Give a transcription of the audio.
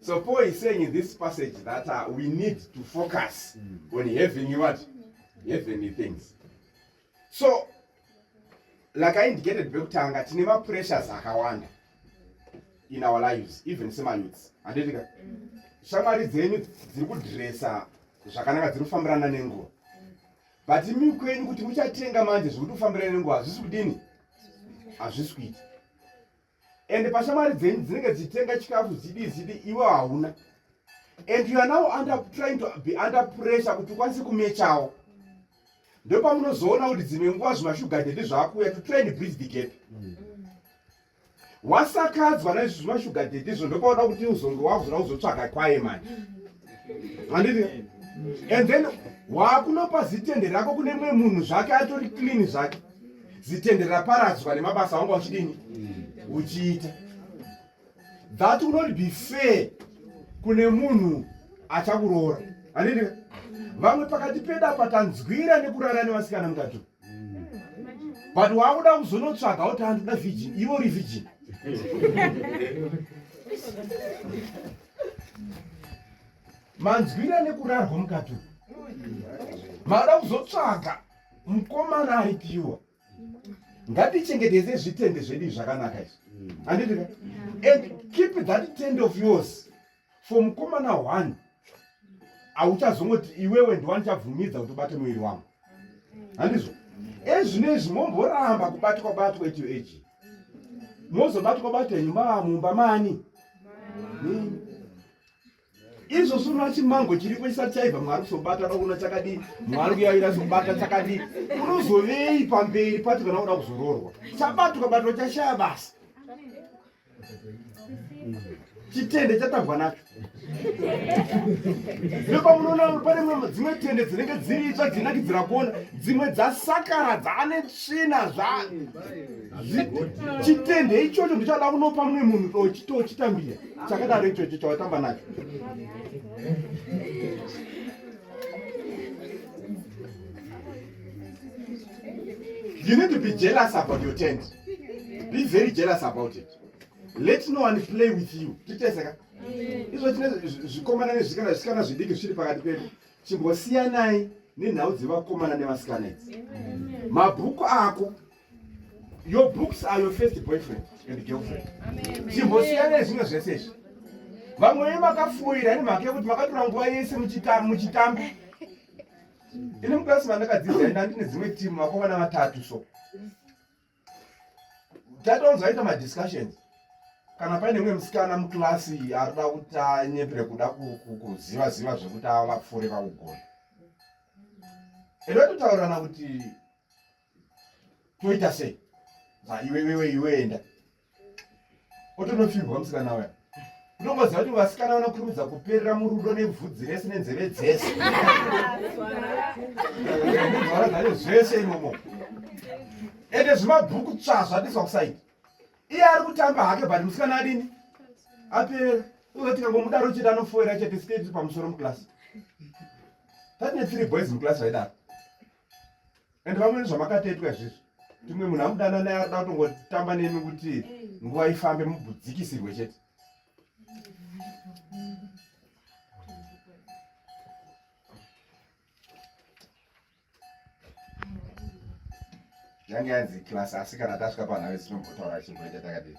So Paul is saying in this passage that uh, we need to focus mm. on heavenly what? Heavenly things. So, like I indicated bekutanga tine ma pressures akawanda in our lives even sema youths handitika shamwari dzenyu dziri kudresa zvakanaka dziri kufambirana nenguva but imi kwenyu kuti muchatenga manje zviri kutofambirana nenguva hazvisi kudini hazvisi kuita and pashamwari dzenyu dzinenge dzichitenga chikafu zidi zidi iwe hauna and you are now under trying to be under pressure kuti ukwanise kumechawo ndopamunozoona kuti dzimwe nguva zvimashugardedi zvaakuuya to try and bridge the gap mm. wasakadzwa naizvi zvimashugardedi izvo ndopaona kuti uzonge wakuzoda kuzotsvaga kwaye mani handiti and then waakunopa zitende rako kune mumwe munhu zvake atori clean zvake zitende raparadzwa nemabasa wanga uchidini uchiita that will not be fair kune munhu achakuroora anini vamwe pakati pedu apa tanzwira nekurara nevasikana mukati but waakuda kuzonotsvaga kuti andoda virgin ivo uri virgin manzwira nekurarwa mukati makuda kuzotsvaga mukomana ari piwa ngatichengetese zvitende zvedu zvakanaka izvi handiti ka and keep that tend of yours for mukomana one hauchazongoti iwewe ndiwani chabvumidza kuti ubate muviri wangu handizvo ezvino izvi momboramba kubatwa batwa ito eji mozobatwa batwa nyumba mumba mani nini izvo zvino chimango chiripo chisati chaibva mwari kuzobata rakuona chakadii mwari kuyaira zobata chakadii unozovei pamberi pacho kana uda kuzororwa chabatwa kabatwa chashaya basa chitende chatambwa nacho nepamunoona pane mwe dzimwe tende dzinenge dziri itsva dzinakidzira kuona dzimwe dzasakara dzaane tsvina zva chitende ichocho ndichada kunopa mumwe munhu tochitambira chakadaro ichocho chawatamba nacho you need to be jealous about your tent be very jealous about it let no one play with you titeseka izvo tine zvikomana nezvikana zvisikana zvidiki zvichiri pakati pedu chimbosiyanai nenhau dzevakomana nevasikana idzi mabhuku ako Your books are your first boyfriend and girlfriend. Chimbosiyana nezvimwe zvese izvi. Vamwe venyu makafuira ini mhaka yekuti makatora nguva yese muchitamba. Ini mukirasi mandakadzidza ini andine dzimwe timu vakomana vatatu so. Tatonzwa ita madiscussions. Kana paine mumwe musikana mukirasi arikuda kuti anyepere kuda kuziva ziva zvekuti avapfuure vakugona. Inototaurana kuti toita sei iwe iwe iwe enda otonopfimbwa musikana uya unomboziva kuti vasikana vanokurumidza kuperera murudo nebvudzi rese nenzeve dzese zvara zvacho zvese imomo ende zvimabhuku tsvazva tiswa kusaidi iye ari kutamba hake but musikana adini aperera uzoti kangomudaro chete anofoera chete sketi pamusoro muclass tatine three boys muclass vaidaro and vamwe nezvamakatetwa izvizvi timwe munhu amudana naye arida kutongotamba nemi kuti nguva ifambe mubudzikisirwe chete yange yanzi class asi kana tasvika panhu ave sinombotaura chimboita takadii